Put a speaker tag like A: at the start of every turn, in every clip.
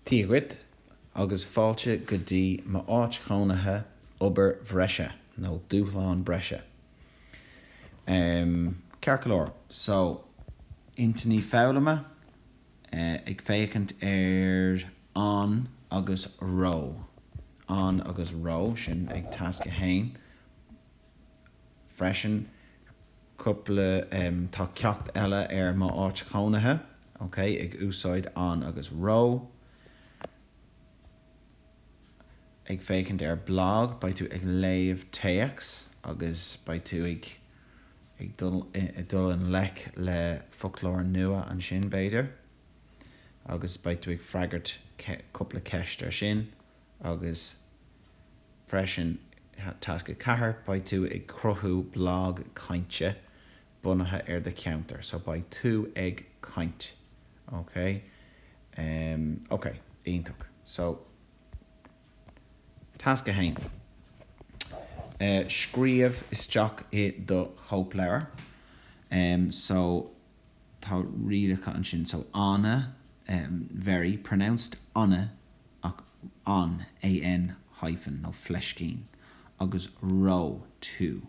A: Dia dhuit, agus fáilte go dtí m'áit chónaithe, obair bhreise, nó dúshlán breise? em. Ceart go leor, so, intinní foghlama, ag féachaint ar an agus ró, an agus ró, sin ag tasc a haon. freisin cúpla tá ceacht eile ar mo áit chónaithe ok ag úsáid an agus ró ag féachaint ar blag beidh tú ag léamh téacs agus beidh tú ag ag dul i dul i ngleic le foclóir nua ansin b'fhéidir agus beidh tú ag freagairt cúpla ceist ar sin agus freisin, tasc 4, beidh tú ag cruthú blag cainte bunaithe ar do cheantar, so beidh tú ag caint, ok? Em, ok, iontach. So, tasc 1, eh, scríobh isteach i do chóipleabhar, em, so. tá rialacha ansin, so an, em, very, pronounced an ach an, AN, hyphen, nó fleiscín, agus ró, too,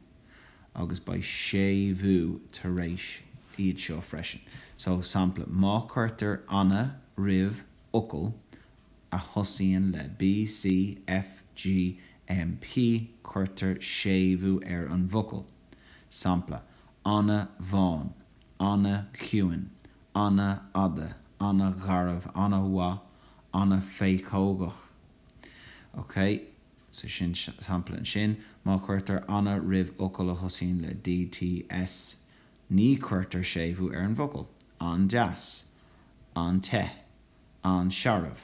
A: agus beidh séimhiú tar éis iad seo freisin. So, sampla, má cuirtear an roimh fhocal a thosaíonn le B, C, F, G, M, P, cuirtear séimhiú ar an bhfocal. Sampla, ana-bhán, ana-chiúin, ana-fhada, ana-gharbh, ana-mhaith, ana-phéacógach. Ok? So sin sampla ansin. Má cuirtear ana roimh fhocal a thosaíonn le D, T, S ní cuirtear séimhiú ar an bhfocal. an-deas, an-te, an-searbh,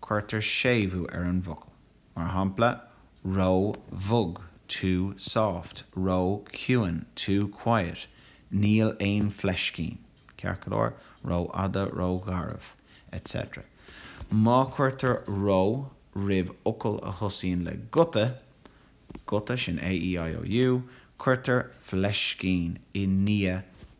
A: cuirtear séimhiú ar an bhfocal, mar shampla ró-bhog too soft, ró-chiúin too quiet, níl aon fleiscín, ceart go leor, ró-fhada, ró-gharbh, etc. Má cuirtear ró roimh fhocal a thosaíonn le guta, guta, sin A, E, I, O, U, cuirtear fleiscín i ndiaidh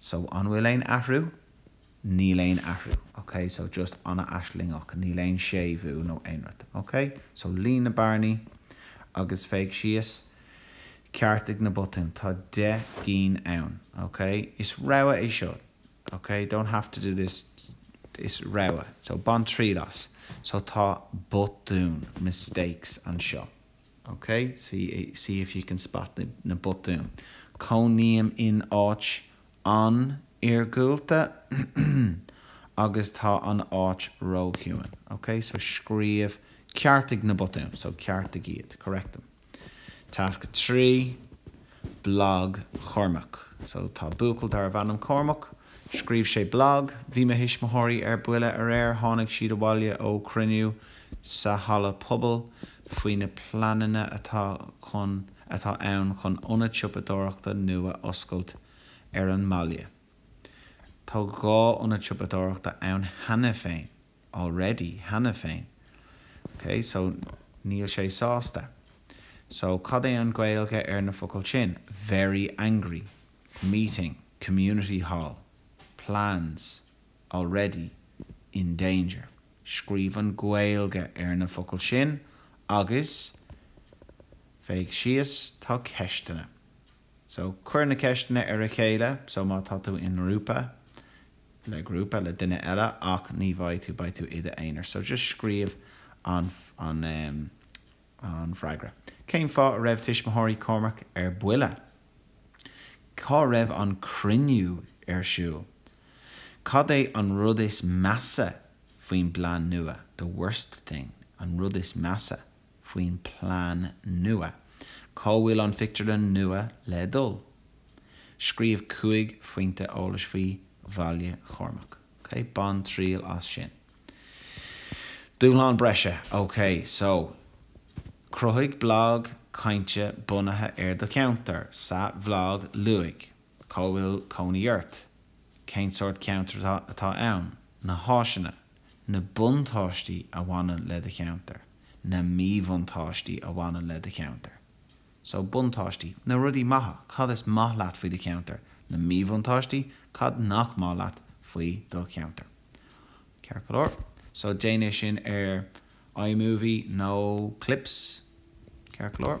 A: So, an bhfuil aon athrú? Níl aon athrú. Ok, so just an-aislingeach, níl aon séimhiú nó aon rud. Ok? So, líon na bearnaí agus féach síos, ceartaigh na botúin. Tá deich gcinn ann. Ok? Is rogha é seo. Ok? Don't have to do this. Is rogha. So, bain triail as. So, tá botún, mistakes, anseo. OK, see if you can spot na botúin. Cónaím in áit an-iargúlta agus tá an áit róchiúin. OK, so scríobh, ceartaigh na botúin. So ceartaigh iad, correct them. Tasc 3. Blag Chormaic So tá buachaill darbh ainm Cormac. Scríobh sé blag. Bhí mo thuismitheoirí ar buile aréir. Tháinig siad abhaile ó chruinniú sa halla pobail faoi na pleananna atá chun atá ann chun ionad siopadóireachta nua oscailt ar an mbaile. Tá dhá ionad siopadóireachta ann cheana féin. already, cheana féin. ok so níl sé sásta so cad é an Ghaeilge ar na focail sin? very angry, meeting, community hall, plans, already, in danger scríobh an Ghaeilge ar na focail sin agus féach síos tá ceisteanna So, cuir na ceisteanna ar a chéile, so má tá tú i ngrúpa, le grúpa, le duine eile, ach ní bheidh tú, beidh tú i d'aonar, so just scríobh an, an em, an freagra. Cén fáth a raibh tuismitheoirí Chormaic ar buile? Cá raibh an cruinniú ar siúl? Cad é an rud is measa faoin bplean nua, the worst thing, an rud is measa? faoin bplean nua. Cá bhfuil an phictiúrlann nua le dul? Scríobh cúig phointe eolais faoi Bhaile Chormaic. OK, bain triail as sin. Dúshlán breise, OK. So, cruthaigh blag cainte bunaithe ar do cheantar. Sa bhlag, luaigh cá bhfuil cónaí ort, cén sórt ceantar atá ann, na háiseanna, Na buntáistí a bhaineann le do cheantar Na míbhuntáistí a bhaineann le do cheantar So, buntáistí, na rudaí maithe, cad is maith leat faoi do cheantar Na míbhuntáistí, cad nach maith leat faoi do cheantar Ceart go leor, so déan é sin ar iMovie nó Clips Ceart go leor.